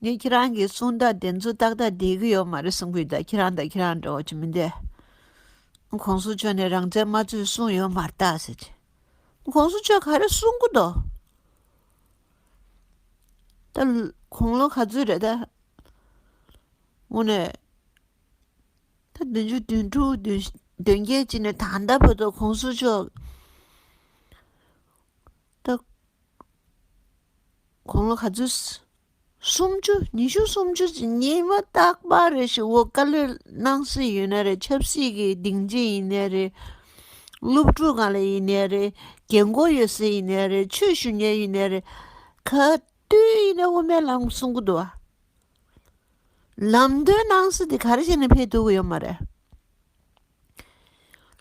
ངས་ཁྱེད་རང་གི་གསུང་དག་བདེན་རྫུན་ཏག་ཏག་བསྡད་ཀྱི་ཡོད་མ་རེད་གསུང་གི་འདུག་ཁྱེད་རང་དང་ཁྱེད་རང་འདྲ་བ་ཅི་མི་འདས། ཁོང་གསུང་ཆོས་ནས་རང་བཙན་མ་རྩོད་གསུང་ཡོད་མ་རྟག་ཟེར་གྱི། ཁོང་གསུང་ཆོས་ག་རེ་གསུང་གི་འདུག། ད་དགུང་ལོ་ག་ཚོད་རེད་ད། ངོ་ནས་ད་བདུན་ཅུ་བདུན་དྲུག་བདུན་བདུན་བརྒྱད་ཅིག་ནས་ད་ལྟ་བོད་དུ་ཁོང་གསུང་ཆོས། རྟགས། གོང་ལོ་ག་ཚོད། སུམ་ཅུ། ཉི་ཤུ་སུམ་ཅུ་ཅིག་ཉིན་མ་རྟག་པ་རེ་ཞིག་བོད་བཀའ་བློན་གནང་སྲིད་ཡོད་ན་རེད་ཆབ་སྲིད་ཀྱི་སྡིངས་ཆེན་ཡིན་ནའི་རེད། སློབ་ཕྲུག་གང་ལ་ཡིན་ནའི་རེད་རྒྱལ་མགོ་ཡོད་སའི་ཡིན་ནའི་རེད་ཆོས་ཞུ་ཉན་ཡིན་ནའི་རེད་ག་དུས་ཡིན་ནའི་དབུ་མའི་ལམ་གསུང་གི་འདུག་ལམ་སྟོན་གནང་སྲིད་དེ་ག་རེ་བྱས་ནས་ཕེབས་ཐུབ་ཀྱི་ཡོད་མ་རེད།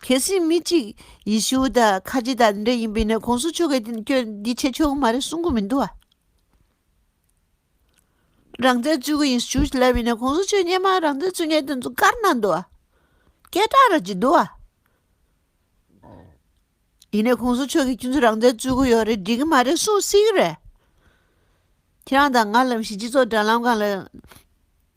གལ་སྲིད་མི་གཅིག་ཡེ་ཤུ་དང་ཁ་ཆེ་དང་འདྲ་ཡིན་པས་ན་གོང་ས་མཆོག་གིས་ཁྱོད་འདི་བྱེད་ཆོག་གི་མ་རེད་གསུང་གི་མི་འདུག་ཨ། རང་བཙན་རྩོད་གི་ཡིན་ཞུ་ལབ་པས་ན་གོང་ས་མཆོག་སྙན་མར་རང་བཙན་རྩོད་མཁན་དེ་ཚོ་བཀར་གནང་འདུག་ཨ། སྐད་གྲགས་ར་གྱི་འདུག་ཨ། ཡིན་ནས་གོང་ས་མཆོག་གིས་ཁྱོད་ཚོ་རང་བཙན་རྩོད་གི་ཡོད་རེད་འགྲིག་གི་མ་རེད་གསུང་སྲིད་གི་རེད། ཁྱེད་རང་དང་ང་ལམ་གཞི་སྤྱི་ཚོགས་དྲ་ལམ་གང་ལ།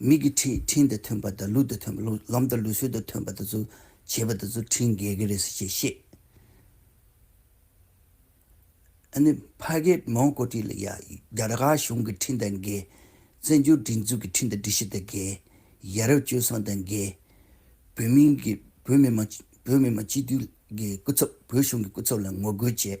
མིག་གི་འཕྲིན་འཕྲིན་དང་མཐུན་པ་དང་ལུས་དང་མཐུན་པ་ལུས་ལམ་དང་ལུས་སྲོལ་དང་མཐུན་པ་དེ་ཚོ་བྱེད་པ་དེ་ཚོ་འཕྲིན་འགེལ་གི་རེད་ཟེར་ཞེས་བཤད། ཨ་ནི་ཕ་གིས་མོང་ཀོ་ཀྲི་ལ་ཡ་རྒྱ་ར་ག་གཞུང་གི་འཕྲིན་དང་འགལ། བཙན་བྱོལ་སྒྲིག་འཛུགས་ཀྱི་འཕྲིན་དང་སྒྲིག་གཞི་དང་འགལ། ཡ་རབས་སྤྱོད་བཟང་དང་འགལ། བོད་མིང་གི་བོད་མི་མང་བོད་མི་མང་སྤྱི་འཐུས་ཀྱི་སྐུ་ཚབ་བོད་གཞུང་གི་སྐུ་ཚབ་ལ་ངོ་རྒོལ་བྱས།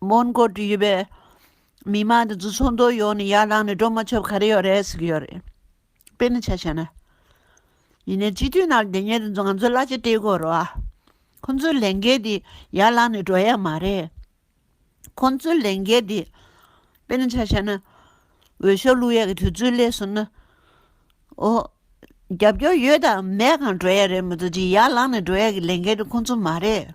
མོན་གྷོ་དུ་ཡོད་པའི་མི་མང་དེ་ཚོ་ཚོགས་འདུ་ཡོང་ནས་ཡར་ལངས་ནས་འགྲོ་མ་ཆོག་ག་རེ་ཡོད་རེད་ཟེར་གྱི་ཡོད་རེད། དཔེར་ན་ཆ་བྱས་ན། ཡིན་ནའི་སྤྱི་འཐུས་ནང་དེ་ཉིད་དེ་ཚོ་ང་ཚོའི་གླ་ཆ་སྟེར་དགོས་རོ། ཁོ་ཚོའི་ལས་འགན་དེ་ཡར་ལངས་ནས་འགྲོ་ཡ་མ་རེད། ཁོ་ཚོའི་ལས་འགན་དེ། དཔེར་ན་ཆ་བྱས་ན། འོས་ཤོག་བླུག་ཡ་གི་དུས་ཚོད་སླེབས་ཟིན་ན། ཨོ། རྒྱབ་སྐྱོར་ཡོད་དང་མེད་གང་འགྲོ་ཡ་རེད་མི་འདུག་ཅིག་ཡར་ལངས་ནས་འགྲོ་ཡ་གི་ལས་འགན་དེ་ཁོ་ཚོ་མ་རེད།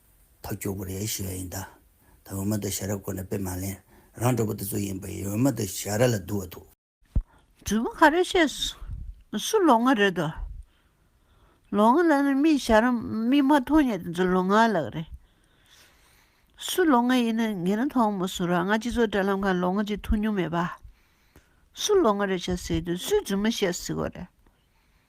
ཐག་གཅོད་དགོས་རེད་ཞུས་ཡ་ཡིན་ད། ད་འོས་མ་འདུག་ཞྭ་ར་སྐོར་ནས་དཔེ་མ་ལེན། རང་གྲོགས་པོ་དེ་ཚོ་ཡིན་པ་ཡིན་འོས་མ་འདུག་ཞྭ་ར་ལ་འདུག་བ་འདུག། དྲུག་པོ་ག་རེ་བཤད། སུ་ལོ་ང་རེད་དོ། ལོ་ང་ལ་ནི་མིས་ཞྭ་ར་མིས་མ་མཐོང་ཡ་དེ་ཚོ་ལོ་ང་ལགས་རེད། སུ་ལོ་ང་ཡིན་ན་ངེད་རང་མཐོང་མོ་སུ་ར་ང་སྤྱི་ཚོགས་དྲ་ལམ་ཁང་ལོ་ང་ཅིག་ཐུག་མྱོང་མེད་པ། སུ་ལོ་ང་རེད་བྱ་ཟེར་དུས་སུས་རྫུན་མ་བཤད་ཟིག་གོ་རེད།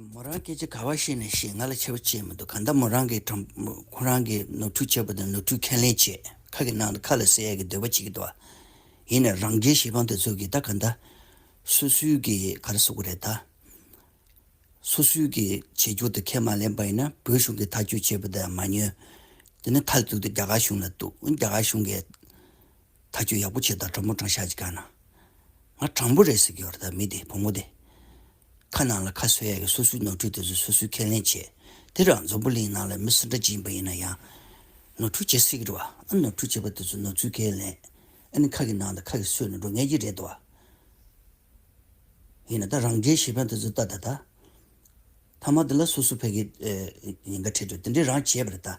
མོ་རང་སྐད་ཆ་ག་བ་ཤེས་ནས་ཤེས་ང་ལ་ཆེ་བ་ཅིས་མི་འདུག་གང་ལྟར་མོ་རང་གིས་དྲང་ཁོ་རང་གིས་ནོར་འཁྲུལ་བྱས་པ་དང་ནོར་འཁྲུལ་ཁས་ལེན་བྱེད་ཁ་གི་ནང་དུ་ཁ་ལ་བསྲེ་ཡ་གི་འདོད་པ་བྱེད་ཀྱི་འདུག་ཨ། ཡིན་ནའི་རང་རྒྱལ་གཞི་འབངས་དེ་ཚོ་གིས་ད་གང་ལྟར། སུ་སུའི་གིས་ག་རེ་བཟོ་གི་རེད་ད། སུ་སུའི་གིས་བྱེད་རྒྱུ་དེ་ཁས་མ་ལེན་པ་ཡིན་ན་བོད་གཞུང་གིས་ཐག་གཅོད་བྱས་པ་དེ་མ་ཉོན། དེ་ནི་མཐའ་གཅིག་ཏུ་རྒྱ་གར་གཞུང་ལ་གཏུགས་རྒྱ་གར་གཞུང་གིས་ཐག་གཅོད་ཡག་པོ་བྱས་དང་དྲང་པོ་དྲང་བཞག་བྱེད་ག་ན། ང་དྲང་པོ་རེད་ཟེར་གྱི་ཡོད་རེད་ད་མི་དེ་བུ་མོ་དེ། ཁ་ནང་ལ་ཁ་སོས་ཡ་གི་སོ་སོའི་ནོར་འཁྲུལ་དེ་ཚོ་སོ་སོའི་ཁས་ལེན་བྱེད། དེ་རང་འཛམ་བུ་གླིང་ནང་ལ་མི་སུ་འདྲ་ཅི་ཡིན་པ་ཡིན་ན་ཡང། ནོར་འཁྲུལ་བྱེད་སྲིད་རེད་བ། ཨ་ནོར་འཁྲུལ་བྱེད་པ་དེ་ཚོ་ནོར་འཚུལ་ཁས་ལེན། ཨ་ནི་ཁ་གི་ནང་དང་ཁ་གི་སོས་ནས་འགྲོ་ངེས་ཀྱི་རེད་བ། ཡིན་ན་ད་རང་རྒྱལ་ཞེ་ཕན་དེ་ཚོ་ལྟ་ད་ད། ཐ་མ་དེ་ལ་སོ་སོ་ཕལ་གི་ཉེན་ཁ་འཕྲད་འགྲོ་དེ་འདྲའི་རང་བྱས་པ་རེད་ད།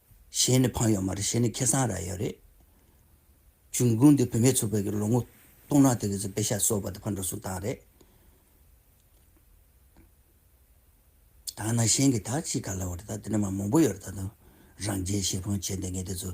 གཞན་ནི་ཕང་ཡོད་མ་རེད་གཞན་ནི་ཁེ་སང་ར་ཡོད་རེད། འབྱུང་ཁུངས་འདི་བུད་མེད་ཚོ་བོད་ཀྱི་ལོ་ངོ་སྟོང་ཕྲག་དེ་གི་ཚོ་པེ་ཤ་གསོ་བ་དེ་ཕར་འགྲོ་སོང་སྟངས་རེད། དང་ན་གཞན་གྱི་དག་ཅིག་ག་ལ་བ་རེད་ད་དེ་འདྲ་མ་མང་པོ་ཡོད་རེད་ད་དུང་རང་རྒྱལ་ཞེ་ཕོང་བྱེད་འདི་ངས་དེ་ཚོ།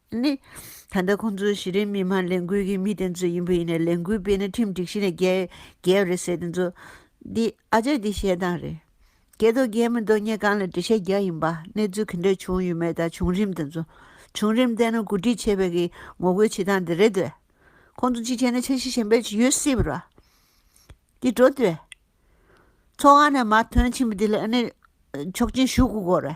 ནི། ད་ལྟ་ཁོང་ཚོ་གཞི་རིམ་མི་མང་ལས་འགུལ་གྱི་མི་དེ་ཚོ་ཡིན་པ་ཡིན་ནའི་ལས་འགུལ་སྤེལ་ན་ཁྲིམས་སྒྲིག་གཞི་ནས་བརྒལ་བ་རེད་ཟེར་དེ་ཚོ། འདི་ཨ་ཅག་འདི་བཤད་སྟངས་རེད། རྒྱལ་དོ་རྒྱལ་མི་དོ་སྙད་གང་ལ་འགྲེལ་བཤད་རྒྱག་ཡིན་པ་གནས་ཚུལ་གི་འདྲ་བྱུང་ཡོད་མེད་དང་བྱུང་རིམ་དེ་ཚོ། བྱུང་རིམ་བལྟས་ན་གོ་སྒྲིག་བྱས་པའི་གིས་ངོ་རྒོལ་བྱེད་སྟངས་དེ་རེད་དེ། ཁོང་ཚོ་གཅིག་བྱས་ན་ཆ་ཤས་གཞན་པའི་ཡོད་སྲིད་པ་ར། འདི་འགྲོ་དེ། ཚོགས་ཁང་ནས་མར་ཐོན་ཕྱིན་པ་དེ་ལ་ཨ་ནི། ཆོག་མཆན་ཞུ་དགོས་ར།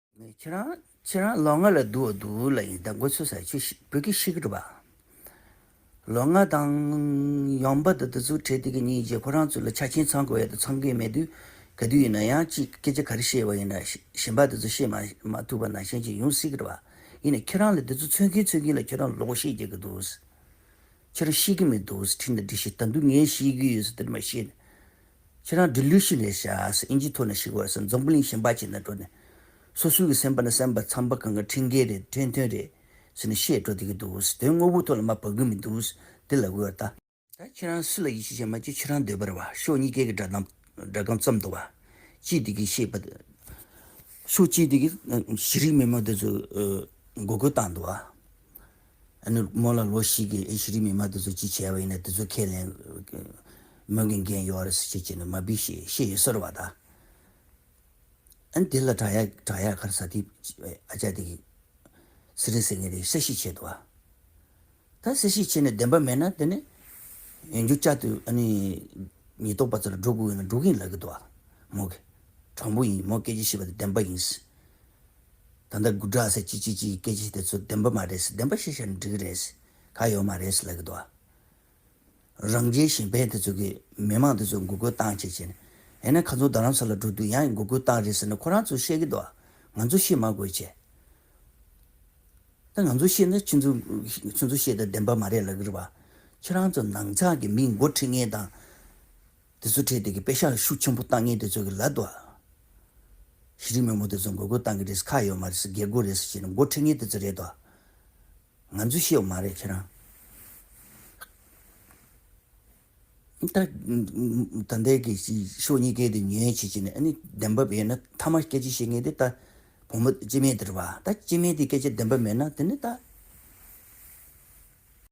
ཁྱེད་རང་ཁྱེད་རང་ལོ་ལྔ་ལ་བསྡུ་བ་བསྡུ་ལ་ཡིན་ད་འགོ་ཚུགས་ས་ཆུ་བོད་ཀྱི་ཤི་ཀྲི་བ། ལོ་ལྔ་དང་ཡོང་འབབ་དང་དུས་ཚོད་ཁྲལ་དེ་གི་གཉིས་རྗེས་ཁོ་རང་ཚོ་ལ་ཆ་ཆེན་ཚང་དགོས་ཡ་དུ་ཚང་གི་མེད་དུས་ག་དུས་ཡིན་ན་ཡང་ཅི་སྐད་ཆ་ག་རེ་བཤད་བ་ཡིན་ན་ཞེན་པ་དེ་ཚོ་བཤད་མ་ཐུབ་པ་ན་ཤེས་ཀྱི་ཡོང་སྲིད་ཀྲི་བ་ཡིན་ན་ཁྱེད་རང་ལ་དེ་ཚོ་འཚོལ་གིན་འཚོལ་གིན་ལ་ཁྱེད་རང་ལོག་བཤད་རྒྱག་གི་འདུག་ཁྱེད་རང་ཤེས་ཀྱི་མི་འདུག་ཁྲིན་ད་འདི་ཤེས་ད་འདུག་ངས་ཤེས་ཀྱི་ཡོད་ས་དེ་རེ་མ་ཤེས། ཁྱེད་རང་འདི་ལུས་ཞིག་ལས་བྱ། ཨིན་ཇིའི་ཐོག་ནས་ཞིག་བར་སེམས་འཛམ་བུ་གླིང་གཞན་པ་ཅིག་ནས་འགྲོ་ནས། སོ་སོའི་གི་སེམས་པ་ནི་སེམས་པ་ཚངས་པ་གང་གི་འཕྲིན་སྐད་རེད་འཕྲིན་ཐུང་རེད། ཟེར་ནས་བཤད་འགྲོ་བསྡད་ཀྱི་འདུག་དོན་དངོས་པོའི་ཐོག་ལ་མ་བབ་གི་མི་འདུག་འདི་ལ་དགོས་ད། ད་ཁྱེད་རང་སུ་ལ་ཡིད་ཆེས་བྱེད་མ་བྱེད་ཁྱེད་རང་འདོད་པར་བ་ཤོག་གཉིས་ཀའི་གི་སྒྲ་གདངས་སྒྲ་གང་ཙམ་འདུག་བ། ཅིས་འདི་གི་བཤད་པ། ཤོག་ཅིས་འདི་གི་གཞི་རིགས་མི་མང་འདི་ཚོས་འགོ་རྒོལ་བཏང་འདུག་བ། ཨ་ནུ། མོ་ལ་ལོ་ཞིག་གི་ཨེ་ཤི་རི་མི་མ་དེ་ཚོ་ཅི་བྱས་པ་ཡིན་ན་དེ་ཚོ་ཁས་ལེན། མོན་གྱི་འགན་ཡོད་རེད་ཟེར་ཅེས་བྱས་ནས་མ་སྦིས་ཞེས་བཤད་ཡོད་ཟེར་བ་དང། ཨན་དེ་ལ་བྲག་ཡག་བྲག་ཡག་གར་ས་དེ་ཨ་ཅག་དེ་གིས་སི་རེ་ཟེར་ངེས་རེད་གསལ་བཤད་བྱས་འདུག་བ། ད་གསལ་བཤད་བྱས་ནས་བདེན་པ་མེད་ན་དེ་ནི། ཡང་རྒྱུ་ཅག་དེ་ཨ་ནི། ཉེས་རྟོག་པ་ཚོ་ལ་སྒྲོ་བསྐུར་འོས་ན་སྒྲོ་གིན་ལག་གི་འདུག་བ། མོ་གིས། དྲང་པོ་ཡིན་མོ་སྐད་ཆ་བཤད་པ་དེ་བདེན་པ་ཡིན། ད་ལྟ་དགུ་བྲག་ཟེར་གྱི་ཅི་ཅི་ཡི་སྐད་ཆ་དེ་ཚོ་བདེན་པ་མ་རེད་ཟེར་བདེན་པ་བཤད་བྱ་འགྲིག་རེད་ཟེར་ག་ཡོད་མ་རེད་ཟེར་ལབ་གི་འདུག་ཨ། རང་རྒྱལ་གཞན་ཕན་དེ་ཚོ་གི་མི་མང་དེ་ཚོ་མགོ་སྐོལ་བཏང་བྱས་བྱས་ནས་ཡང་ན་ག་ཚོད་རྡ་རམ་ས་ལ་འགྲོ་དུས་ཡང་མགོ་སྐོལ་བཏང་རེད་ཟེར་ནས་ཁོ་རང་ཚོ་བཤད་ཀྱི་འདུག་ང་ཚོ་བཤད་མ་དགོས་བྱས། ད་ང་ཚོ་བཤད་ན་ཁྱོད་ཚོ་ཁྱོད་ཚོ་བཤད་དེ་བདེན་པ་མ་རེད་ལབ་གི་རེད་བ། ཁྱེད་རང་ཚོ་ནང་ཚགས་ཀྱི་མིས་མགོ་ཁྲིད་ངེས་དང། དེ་ཚོ་ཁྲལ་དེ་གི་དཔེ་ཤག་ཤུགས་ཆེན་པོ་བཏང་ངེས་དེ་ཚོ་གི་ལ་དུ། གཞི་རིམ་མི་མོ་དེ་ཚོ་འགོད་དགོས་བཏང་གི་རེད་ཟེར་ཁག་ཡོད་མ་རེད་ཟེར་སྒེར་སྒོ་རེད་ཟེར་བྱས་ནས་མགོ་ཁྲིད་ངེས་དེ་ཚོ་རེད་དོ། ང་ཚོས་ཤེས་བ་མ་རེད་ཁྱེད་རང། ད་ལྟའི་གི་ཕྱོགས་གཉིས་ཀའི་དེ་ཉོན་ཅིག་བྱས་ནས་ཨ་ནི་བདེན་པ་ཡོད་ན་མཐའ་མར་སྐད་ཆ་བཤད་ངེས་དེ་ད་བུ་མོ་སྤྱི་མེས་དེ་རེད་བ། ད་སྤྱི་མེས་དེ་སྐད་ཆ་བདེན་པ་མེད་ན་དེ་ནི་ད།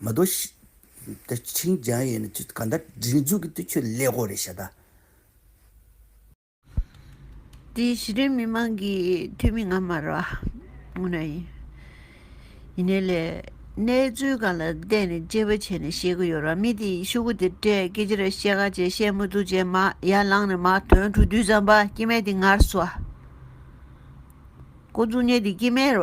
མ་དོ། ད་ཁྱིང་རྒྱང་ཡོད་ན་ཁྱོད་ག་འདྲ་སྒྲིག་འཛུགས་ཀྱི་འདུག་ཁྱོད་ཀླད་ཀོར་རེད་ཤ་ད། དེ་གཞི་རིམ་མི་མང་གི་འཐུས་མི་ང་མ་ར་ངོ་ན་ཡིན། ཡིན་ནའི་ལས་གནས་ཚུལ་གང་ལ་བལྟས་ནས་དཔྱད་པ་བྱས་ནས་བཤད་གི་ཡོད་ར་མི་དེ་ཤུ་གུ་དེ་སྤྲད་སྐད་ཅི་ར་བཤད་ག་བྱས་བཤད་མུ་ཐུག་བྱས་མ་ཡ་ལང་ནས་མ་དོན་དྲུག་བསྡུས་ཙམ་པ་སྐྱེ་མེད་དེ་ངར་སོ། ཀོ་འཛུགས་ཉེ་དེ་སྐྱེ་མེད་ར།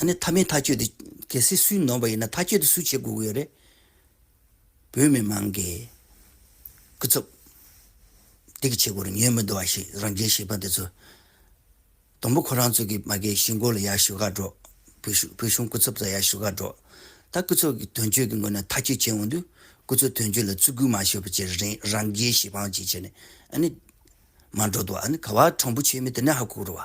ཨ་ནི་ཐ་མའི་ཐག་གཅོད་དེ་གལ་སྲིད་སུས་ནོར་བ་ཡིན་ན་ཐག་གཅོད་དེ་སུས་བྱེད་དགོས་ཀྱི་ཡོད་རེད། བོད་མི་མང་གི་སྐུ་ཚབ་སྡིག་གི་བྱེད་སྒོ་རུ་ཉོན་མི་འདོད་བ་ཞིག་རང་རྒྱལ་གཞིས་པ་འདི་ཚོ། དང་པོ་ཁོ་རང་ཚོ་གི་མ་གའི་གཞིས་མགོ་ལ་ཡར་ཞུ་ག་འགྲོ། བོད་གཞུང་སྐུ་ཚབ་ཚོ་ཡར་ཞུ་ག་འགྲོ། ད་སྐུ་ཚབ་ཀྱི་དོན་གཅོད་ཀྱི་ངོས་ནས་ཐག་གཅོད་བྱེད་འོང་དུས་སྐུ་ཚབ་དོན་གཅོད་ལ་བརྩི་བཀུར་མ་ཞུ་བ་བྱེད་རེ་རེན་རང་རྒྱལ་གཞིས་པའང་བྱེད་བྱེད་ནས་ཨ་ནི་མ་འགྲོ་འདུག་ཨ་ནི་ག་བ་དྲང་པོ་བྱེད་མི་དེ་ནས་ཧ་གོ་རུ་བ།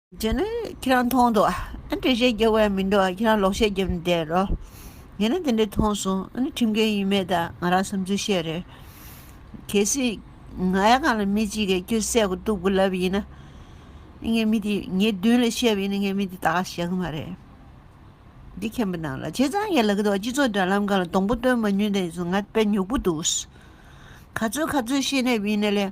རྗེས་ནས་ཁྱེད་རང་མཐོང་འདུག་ཨ་འདྲེ་ཞེས་རྒྱག་བས་མི་འགྲོ་བར་ཁྱེད་རང་ལོག་བཤད་རྒྱབ་ནས་བསྡད་རོགས། ངས་ནི་དེ་འདྲའི་མཐོང་སོང་ཨ་ནི་ཁྲིམས་འགལ་ཡིན་མེད་དང་ང་རང་བསམ་ཚུལ་བཤད་རེད། གལ་སྲིད། ང་ཡང་གང་ལ་མི་གཅིག་གིས་ཁྱོད་བསད་དགོས་གཏུགས་དགོས་ལབ་པ་ཡིན་ན། ངས་མི་དེ་ངའི་མདུན་ལས་བཤད་པ་ཡིན་ན་ངས་མི་དེ་ད་ག་བྱ་གི་མ་རེད། འདི་མཁན་པོ་ནང་ལ་བྱས་ཙང་ངའི་ལག་གི་ཐོག་སྤྱི་ཚོགས་དྲ་ལམ་གང་ལ་སྡོང་པོ་སྟོན་མ་ཉུལ་ད་ཡིན་ཟུང་ང་དཔེ་ཉོག་པོ་འདུག། ག་ཚོད་ག་ཚོད་ཤེས་ནས་བིན་ནས་ལས།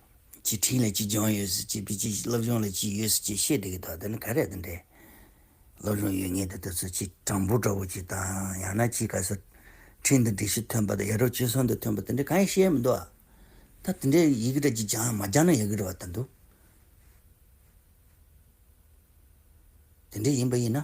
ཅི་ཁྲིད་ལ་ཅི་སྦྱོང་ཡོད་སྲིད་ཅི་ཅི་སློབ་སྦྱོང་ལ་ཅི་ཡོད་སྲིད་ཅེས་བཤད་འདོད་ཀྱི་དོགས་འདི་ནི་ག་རེད་དེ་འདྲས། སློབ་སྦྱོང་ཡོད་ངེས་དེ་དེ་ཚོ་ཅི་གྲངས་འབུར་འདྲ་བོ་ཅིག་དང་ཡང་ན་ཅི་ག་སོ། ཁྲིད་འདི་འགྲིག་གཞི་ཐོན་པ་དང་ཡ་རབས་སྤྱོད་སྲོལ་འདི་ཐོན་པ་དེ་འདྲས་གང་ཡང་བཤད་ཡ་མི་འདུག་ཨ། ད་དེ་འདྲས་ཡི་གེ་འདྲ་ཅིག་སྦྱང་ཡང་མ་སྦྱང་ན་ཡག་གི་རེད་བ་ལྟར་འདུག། དེ་འདྲས་ཡིན་པ་ཡིན་ན།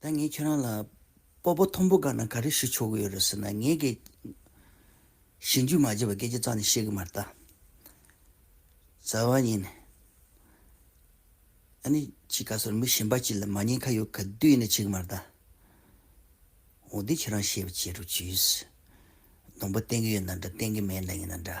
ད་ངས་ཁྱོད་རང་ལ་སྤོ་པོ་ཐོམ་བུ་སྒར་ན་ག་རེ་ཞུ་ཆོག་གི་ཡོད་རེད་ཟེར་ན་ངས་ཀྱི། ཞེན་རྒྱུས་མ་བརྗེད་པར་སྐད་ཆ་རྩ་ནས་བཤད་གི་མ་རེད། ཟ་བ་ཉིན། ཨ་ནི་ཁྱི་ག་ཚོར་མི་གཞན་པ་གཅིག་ལ་མ་ཉན་ཁ་ཡོད་ག་དུས་ཡིན་ན་བྱེད་གི་མ་རེད། འོ་དེ་ཁྱོད་རང་ཤེས་པ་བྱེད་རོགས་གྱིས། སྡོང་པོ་བསྟན་གི་ཡོད་ན་འདྲ་བསྟན་གི་མེད་ན་ཡིན་ན་འདྲ།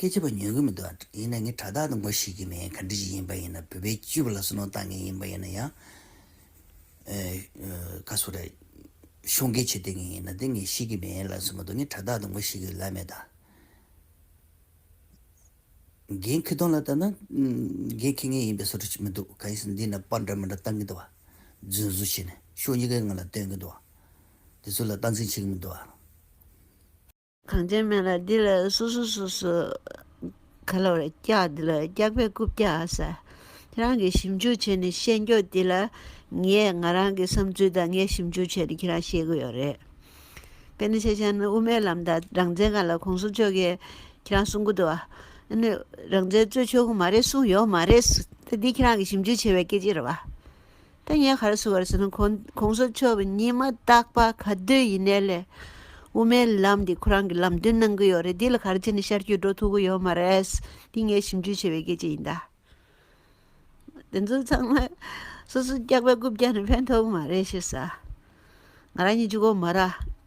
སྐད་ཆ་པོ་ཉོས་ཀྱི་མི་འདུག་ཡིན་ན་ངས་དྲ་བདག་དང་མགོ་ཞིག་གི་མེད་ག་འདྲི་ཞིག་ཡིན་པ་ཡིན་ན་བོད་པའི་སྤྱི་བོ་ལ་སོ་ནོ་བཏང་མཁན་ཡིན་པ་ཡིན་ན་ཡང་ག་སུ་རེད་ཤོང་སྐད་ཆོས་བསྟན་མཁན་ཡིན་ན་དེ་ངས་ཤེས་ཀྱི་མེད་ལབ་སོང་མ་འདུག་ངས་དྲ་བདག་དང་མགོ་ཞིག་གི་ལབ་མེད་ད། རྒན་ཁི་ཏོང་ལ་ལྟ་ན་རྒན་ཁི་ངན་ཡིན་པའི་ཟུར་ཆོ་མི་འདུག་ག་ཡིན་ཟེར་ན་འདི་ན་པར་འདྲ་མི་འདྲ་བཏང་གི་འདུག་བ་རྫུན་བཟོ་བྱས་ནས་ཕྱོགས་གཉིས་ཀའི་ངང་ལ་སྟོན་གྱི་འདུག་བ་དེ་ཚོ་ལ་སྟངས་འཛིན་བྱེད་ཀྱི་མི་འདུག་བ། གངས་ཅན་སྨན་ལ་འདི་ལ་སུ་སུ་སུ་སུ། ག་ལ་བར་སྐྱག་འདི་ལ་སྐྱག་པའི་རྐུབ་བཀྱག་ཟ། ཁྱེད་རང་གིས་ཞིབ་འཇུག་བྱས་ནས་བཤད་མགྱོགས་འདི་ལ། ངས་ང་རང་གི་བསམ་ཚུལ་དང་ངས་ཞིབ་འཇུག་བྱས་ནས་ཁྱེད་རང་ཤེས་གི་ཡོད་རེད། དཔེ་ནི་ཤེས་བྱ་ནི་དབུ་མའི་ལམ་དང་རང་བཙན་གང་ལ་གོང་གསུམ་ཆོལ་ཁས་ཁྱེད་རང་གསུང་གི་འདུག་ཨ། ནི་རང་བཙན་རྩོད་ཆོག་གི་མ་རེད་གསུང་ཡོད་མ་རེད། ད་འདི་ཁྱེད་རང་གིས་ཞིབ་འཇུག་བྱས་པའི་སྐད་ཆ་རེད་བ། ད་ངས་ག་རེ་ཟུར་བར་ཟེར་ན་གོང་ས་མཆོག་གི་ཉི་མ་རྟག་པ་ག་དུས་ཡིན་ནའི་ལས། དབུ་མའི་ལམ་འདི་ཁོ་རང་གི་ལམ་སྟོན་གནང་གི་ཡོད་རེད་འདི་ལ་ག་རེ་བྱས་ནས་ཤར་རྒྱུད་འགྲོ་ཐུབ་གི་ཡོད་མ་རེད། འདི་ངའི་ཞིབ་འཇུག་བྱས་པའི་སྐད་ཆ་ཡིན་ད། དེ་ཚོ་ཚང་མ་སོ་སོ་སྐྱག་པའི་རྐུབ་བཀྱག་ནས་ཕན་ཐོག་གི་མ་རེད་ཤེས་ས། ང་རང་ཉིད་ཅུ་གོ་མ་ར་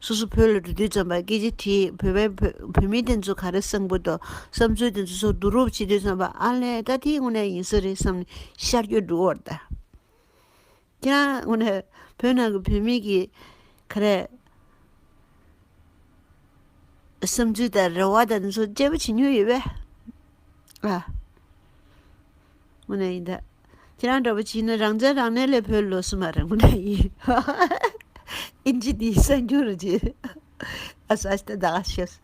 སོ་སོ་བོད་ལ་འགྲོ་དུས་རྩོམ་པ་སྐད་ཆ་དེས་བོད་པའི་བོད་མི་དེ་ཚོ་ག་རེ་བསམ་གི་འདུག་བསམ་ཚུལ་དེ་ཚོ་སོགས་བསྡུ་རུབ་བྱེད་དུས་རྩོམ་པ་ཨ་ལས་ཀ་དེའི་དངོས་གནས་ཡིན་ས་རེད་བསམ་ནས་ཤར་སྐྱོད་འདུག་འོར་ད་ཀྱང་དངོས་གནས་བོད་ནང་གི་བོད་མི་གི་ག་རེ་བསམ་ཚུལ་དང་རེ་བ་དང་འདི་ཚོ་དཔྱད་པ་བྱེད་མྱོང་ཡོད་པས། ངོ་ནས་ཡིན་ད། ཁྱེད་རང་འདྲ་བོ་བྱིས་ནི་རང་བཙན་རང་གནས་ལས་བོད་ལོས་སུ་མ་རེད་ངོ་ནས་ཡིན། ཨིན་ཇི་དེའི་གསར་འགྱུར་རུ་བྱེད། ཨ་ས་ཨྱི་ཏི་ད་ག་ཤེས།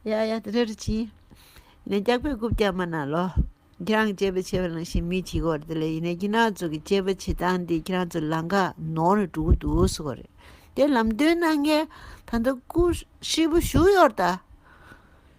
ཡ་ཡ་དེ་འདྲ་རུ་བྱིས། ནས་སྐྱག་པའི་རྐུབ་ཀྱང་མ་ན་ལོ། ཁྱེད་རང་གི་དཔྱད་པ་བྱེད་པ་ནང་བཞིན་མི་བྱིས་གོ་རེད་དེ་ལས་ཡིན་ནས་ཁྱེད་རང་ཚོ་གི་དཔྱད་པ་བྱེད་སྟངས་དེ་ཁྱེད་རང་ཚོ་ལང་ཀ་ནོར་ནས་འགྲོ་གི་འདུག་ཟེར་གོ་རེད་དེ་ལམ་སྟོན་གནང་མཁན་ད་ལྟ་སྐུ་ཧྲིལ་པོ་བཞུགས་ཡོད་རེད་ད།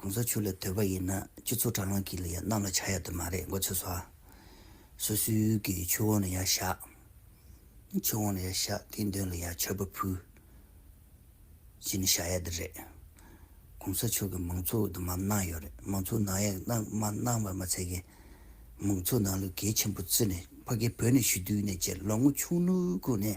གོང་ས་མཆོག་ལ་འདོད་པ་ཡིན་ན་སྤྱི་ཚོགས་དྲ་ལམ་གྱི་རྣམས་ལ་བྱ་ཡག་དུ་མ་རེད་མགོ་ཚོས་སོ། སོ་སོའི་གི་ཆོས་དབང་ལ་ཡག་བཞག། ཆོས་དབང་ལ་ཡག་བཞག་དེའི་མདུན་ལ་ཡང་ཆར་པ་ཕུལ། ཅི་ནས་བྱ་ཡག་དེ་རེད། གོང་ས་མཆོག་གི་མང་ཚོགས་དུ་མར་གནང་ཡོད་རེད་མང་ཚོགས་ནང་ཡག་མ་གནང་བ་མ་ཚད་ཀྱི། མང་ཚོགས་ནང་ལུས་འགལ་ཆེན་པོ་བརྩི་ནས་ཕ་གི་བོད་ནས་ཞུ་དུས་ནས་བཅས་ལོ་ངོ་ཆུང་ནུ་ཁུག་ནས།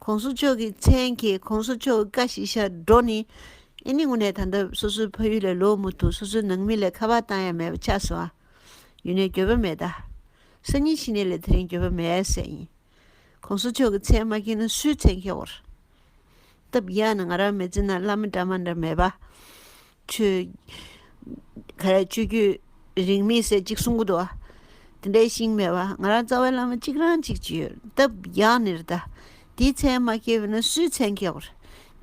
ྋགོང་ས་མཆོག་གི་མཚན་གྱི ྋགོང་ས་མཆོག་བཀའ་བཞི་ཤར་འགྲོ་ནི། ཨེ་ནི་དངོས་གནས་ད་ལྟ་སོ་སོའི་ཕ་ཡུལ་ལས་ལོག་མུ་མཐུད་སོ་སོའི་ནང་མི་ལས་ཁ་བརྡ་བཏང་ཡ་མེད་པ་ཆགས་སོང་ཨ། ཡུན་ནས་འགྱོད་པ་མེད་ད། སང་ཉིན་ཕྱི་ནས་ལས་དེ་རིང་འགྱོད་པ་མེད་ཨེ་སེ་ཡིན། ྋགོང་ས་མཆོག་གི་མཚན་མ་མཁྱེན་ན་སུའི་མཚན་མཁྱེ་བོར། སྟབས་ཡག་ན་ང་རང་མེ་ཙི་ན་བླ་མ་འདྲ་མ་འདྲ་མེད་པ། རིང་མི་ཟད་ཅིག་གསུང་གི་འདུག་དེ་འདྲའི་ཤིང་སྨྲས་པ་ང་རང་རྩ་བའི་བླ་མ་གཅིག་རང་གཅིག་ཅི་ཡོད་སྟབས་ཡང་ནི་རེ་ད་དེའི་མཚན་མ་སྐྱེས་པས་ན་སུའི་མཚན་སྐྱེ་བར།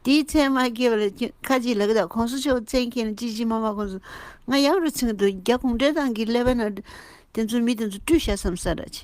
དེའི་མཚན་མ་སྐྱེས་པ་ལ་ཁ་ཅིག་ལ་ཀི་དག་ཁོང་སུ་ཆོག་མཚན་སྐྱེས་ན་ཅི་ཅི་མ་མ་ཁོང་སུ་ང་ཡག་རུ་ཚིག་འདུག་རྒྱ་གུང་བྲན་ཏང་གིས་སླེབས་པས་ན་དེ་ཚོ་མི་དེ་ཚོ་བཀྲུས་ཤ་བསམ་ས་ར་ཅི།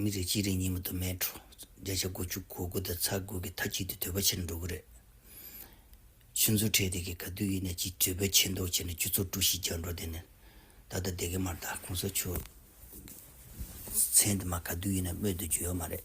མི་རིགས་གཅིག་རིང་གཉིས་མི་དུ་མའི་འཕྲོད། བརྒྱ་ཆ་དགུ་བཅུ་གོ་དགུ་དང་ཚ་དགུ་གི་མཐའ་གཅིག་ཏུ་དོད་པ་ཆེར་འགྲོ་གི་རེད། ཆུ་མཛོད་ཁྲལ་དེ་གའི་ག་དུས་ཡིན་ན་གཅིག་དྲིལ་བུ་ཆེ་མདོག་བྱས་ནས་ཁྱུ་ཚོགས་དཀྲུགས་ཤིང་རྒྱག་འགྲོ་དེ་ནི། ད་ལྟ་སྡེ་དགེ་མར་དང་གུང་ས་མཆོག་གི་མཚན་དེ་མ་ག་དུས་ཡིན་ན་སྨོས་དུ་འཇུག་ཡོད་མ་རེད།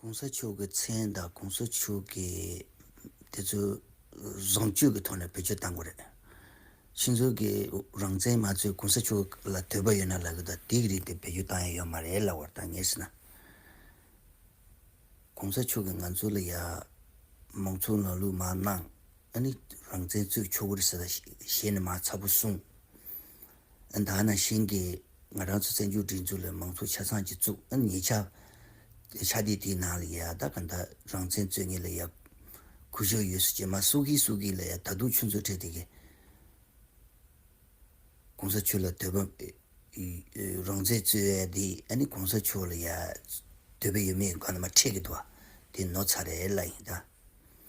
གོང་ས་མཆོག་གི་མཚན་དང་གོང་ས་མཆོག་གི་དེ་ཚོའི་བཟང་སྤྱོད་ཀྱི་ཐོག་ནས་བེད་སྤྱོད་བཏང་གི་རེད། ཕྱི་ཚུལ་གྱི་རང་བཙན་མ་ཚོས་གོང་ས་མཆོག་ལ་དོད་པ་ཡོད་ན་ལབ་གི་དང་དེ་གི་རིགས་དེ་བེད་སྤྱོད་བཏང་ཡས་ཡོད་མ་རེད་ལབ་བར་ཐང་ངེས་སྲིད་ན། གོང་ས་མཆོག་གི་ང་ཚོ་ལ་ཡ། མང་གཙོ་ལ་ལུགས་མ་གནང། ཨ་ནི་རང་བཙན་རྩོད་ཆོག་གི་རེད་ཟེར་ད་ཞེས་ནས་མ་ཚ་པོ་གསུངས། ད་ནང་བཞིན་གྱི་ང་རང་ཚོའི་བཙན་བྱོལ་སྒྲིག་འཛུགས་ལ་མང་གཙོ་ཆ་ཚང་གཅིག་བཙུགས་ཉེས་ཆ། ཆ་དེ་དེའི་ནང་ལ་ཡ་ད་ག་འདྲ་རང་བཙན་རྩོད་ངེས་ལ་ཡ་གུ་ཞིག་ཡོད་སྲིད་ཀྱི་མ་སུ་གིས་སུ་གིས་ལ་ཡ་ད་དུང་ཆུ་མཛོད་ཁྲེ་དེ་གས་གོང་ས་ཆོས་ལ་དོད་པ་རང་བཙན་རྩོད་ཡ་དེ་ཨ་ནི་གོང་ས་ཆོས་ལ་ཡ་དོད་པ་ཡོད་མེད་གང་ལ་མ་ཁྲེལ་གི་དོ་བ་དེ་ནོར་ཚ་རེད་ལ་ཡིན་ད།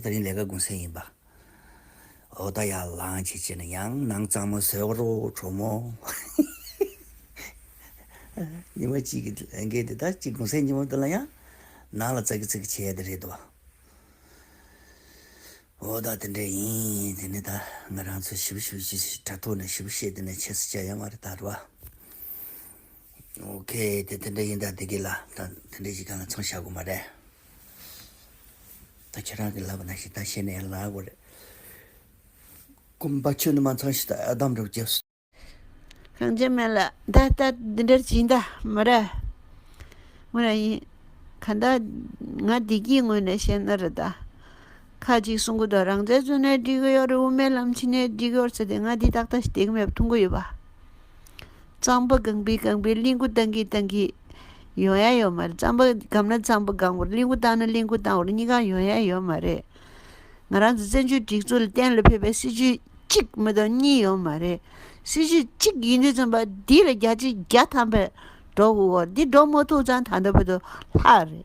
ད་རིང་ལས་ཀ་དགུན་སེང་ཡིན་པ། འོ་ད་ཡར་ལངས་བྱེད་ཅེས་ན་ཡང་ནང་གཙང་མ་ཟོས་རོགས་གྲོགས་མོ། ཉི་མ་གཅིག་གི་ལས་འགན་དེ་ད་གཅིག་དགུན་སེང་ཉི་མ་དེ་ལ་ཡང་ནང་ལ་ཙག་གི་ཙག་གི་བྱེད་ཡ་དེ་རེད་དོ། འོ་ད་དེ་འདྲ་ཡིན་དེ་ནི་ད་ང་རང་ཚོས་ཞིབ་ཞིབ་བྱས་ཚེ་དྲ་ཐོག་ནས་ཞིབ་བཤད་དེ་ནས་བྱས་ཚེ་བྱ་ཡ་མ་རེད་ད་རེད་བ། ཨོ་ཁེ་དེ་དེ་འདྲ་ཡིན་ད་དེ་གི་ལ་ད་དེ་འདྲ་ཞིག་ག་ལ་ཚང་བྱ་དགོས་མ་རེད། ད་ཁྱེད་རང་གིས་ལབ་པ་ན་ཞིག་ད་བཤད་ནས་ལ་གོ་རེ། སྐུ་འབའ་ཆོས་ནི་མ་ཚང་ཞིག་ད་ཨ་དམ་རུ་རྒྱབ། གངས་ཅན་མ་ལ་ད་ལྟ་འདི་འདྲར་བྱིན་ད་མོ་ར། མོ་ར་ཡིན། ག་ད་ང་བདེ་སྐྱིད་ངོས་ནས་བཤད་ན་རེ་ད། ཁ་ཅིག་གསུང་གི་འདུག་རང་བཙན་བཙོན་ནས་འགྲིག་གི་ཡོད་རེད་དབུ་མའི་ལམ་ཕྱི་ནས་འགྲིག་གི་ཡོད་ཟེར་ཏེ་ང་འདི་ཏག་ཏག་ཞིག་དེ་གི་མེད་པ་མཐོང་གི་ཡོད་པ། རྩང་པ་སྒང་པའི་སྒང་པའི་གླིང་དགུ་བཏང་གིས་བཏང་གིས། ཡོང་ཡ་ཡོད་མ་རེད་རྩང་པ་སྒམ་ན་རྩང་པ་སྒང་བར་གླིང་དགུ་བཏང་ན་གླིང་དགུ་བཏང་བར་གཉིས་ཀའང་ཡོང་ཡ་ཡོད་མ་རེད། ང་རང་ཚོ་བཙན་བྱོལ་སྒྲིག་འཛུགས་ལ་གཏན་ལ་ཕེབས་པའི་སྲིད་བྱུས་གཅིག་མི་དང་གཉིས་ཡོད་མ་རེད། སྲིད་བྱུས་གཅིག་ཡིན་དུས་ཚན་པ་འདི་ལ་བརྒྱ་ཆའི་བརྒྱ་ཐམ་པས་འགྲོ་འོ་འདི་འགྲོ་མ་ཐུབ་ཙང་ད་ལྟ་བུད་དུ་ལྷག་རེད།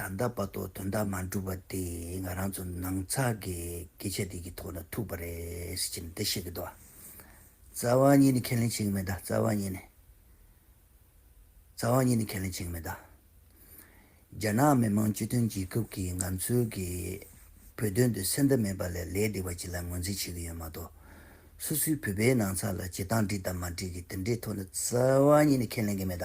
ད་ལྟ་བར་དུ་དོན་དག་མ་འགྲུབ་པ་དེ་ང་རང་ཚོ་ནང་ཚགས་ཀྱི་སྐད་ཆ་དེ་གི་ཐོག་ལ་ཐུག་པ་རེད་ཟེར་གྱི་ནི་འདི་ཤེས་གི་འདུག་རྩ་བ་གཉིས་ནི་ཁས་ལེན་བྱེད་གི་མེད་རྩ་བ་གཉིས་ནི། རྩ་བ་གཉིས་ནི་ཁས་ལེན་བྱེད་གི་མེད། རྒྱ་ནག་མི་དམངས་སྤྱི་མཐུན་རྒྱལ་ཁབ་ཀྱིས་ང་ཚོའི་གི་བོད་དོན་དུ་སེམས་འདུན་མེད་པ་ལས་ལས་སྡིག་པ་ཅིག་ལ་ངོས་འཛིན་བྱེད་གི་ཡོད་མ་གཏོགས། སུ་སུའི་བོད་པའི་ནང་ཚགས་ལ་བྱེད་སྟངས་འགྲིག་དང་མ་འགྲིག་གི་དེ་འདྲའི་ཐོག་ལ་རྩ་བ་གཉིས་ནི་ཁས་ལེན་གི་མེད།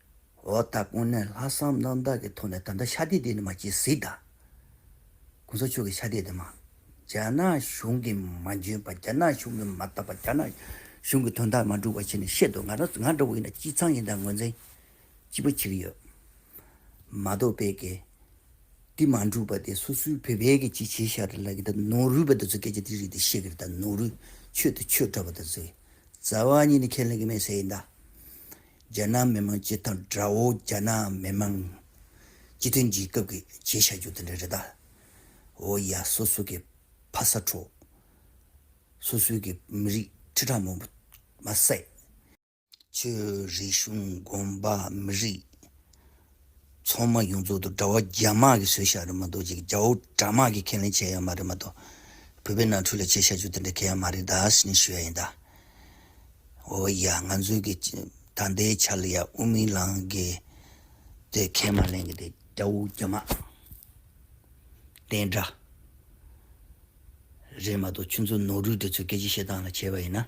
འོ་ད་དཀོན་ནས་ལྷག་བསམ་རྣམ་དག་གི་ཐོག་ནས་ད་ལྟ་ཆ་དེ་དེ་ནི་མ་བྱེད་གཟིགས་ད། གོང་ས་མཆོག་གི་ཆ་དེ་དེ་མ། རྒྱ་ནག་གཞུང་གི་མ་འཇོན་པ་རྒྱ་ནག་གཞུང་གི་མ་ལྟ་བ་རྒྱ་ནག་གཞུང་གི་དོན་དག་མ་འགྲུབ་བ་བྱས་ནས་བཤད་འདུག་ང་རང་ང་འདྲ་བོ་ཡིན་ན་སྤྱི་ཚང་ཡིན་དང་ངོས་འཛིན་སྐྱིད་པོ་བྱེད་ཀྱི་ཡོད། མ་གཏོགས་བལ་གེ། དེ་མ་འགྲུབ་པ་དེ་སོ་སོའི་བོད་བལ་གེ་ཅིག་བྱས་ཤག་རེད་ལབ་ཀྱི་ད་ནོར་རུས་པ་དེ་ཚོ་སྐད་ཆ་དེ་རིགས་དེ་བཤད་ཀྱི་རེད་ད་ནོར་རུས་ཆོས་དེ་ཆོས་འདྲ་བོ་དེ་ཚོའི་རྩ་བ་ཉིད་ནས་ཁས་ལེན་གྱི་མེད་ཟེར་ཡིན་ད། རྒྱ་ནག་མི་མང་སྤྱི་དང་དགྲ་བོ་རྒྱ་ནག་མི་མང། སྤྱི་མཐུན་རྒྱལ་ཁབ་ཀྱི་བྱས་བཞག་རྒྱུ་དེ་འདྲ་རེད་ད། འོ་ཡ་སོ་སོ་གི་ཕ་ས་འཕྲོ། སོ་སོའི་གི་མི་རིགས་ཁྲི་ཕྲག་མང་པོ་མ་བསད། ཆོས་རིག་གཞུང་དགོན་པ་མི་རིགས། ཚོང་དམག་ཡོངས་རྫོགས་དུ་གྲྭ་བ་རྒྱ་དམག་གིས་བཟོས་ཤག་རེད་མ་གཏོགས་ཅིག་རྒྱ་བོ་གྲྭ་དམག་གིས་ཁས་ལེན་བྱས་ཡོད་མ་རེད་མ་གཏོགས། བོད་པའི་ནང་ཁྲོལ་ལ་བྱས་ཤག་ཆུ་དེ་འདྲ་གས་ཡ་མ་རེད་ད་ཟེར་ནས་ཞུ་ཡ་ཡིན་ད། འོ་ཡ་ང་ཚོའི་གི་ད་ལྟའི་ཆ་ལ་ཡ་དབུ་མི་ལང་གི་དེ་ཁས་མ་ལེན་གི་དེ་རྒྱ་བོ་རྒྱ་དམག་དེ་འདྲ་རེད་མ་གཏོགས་ཆུ་ཚོ་ནོར་རུས་དེ་ཚོས་སྐད་ཅིག་བཤད་སྟངས་ལ་བྱས་པ་ཡིན་ན།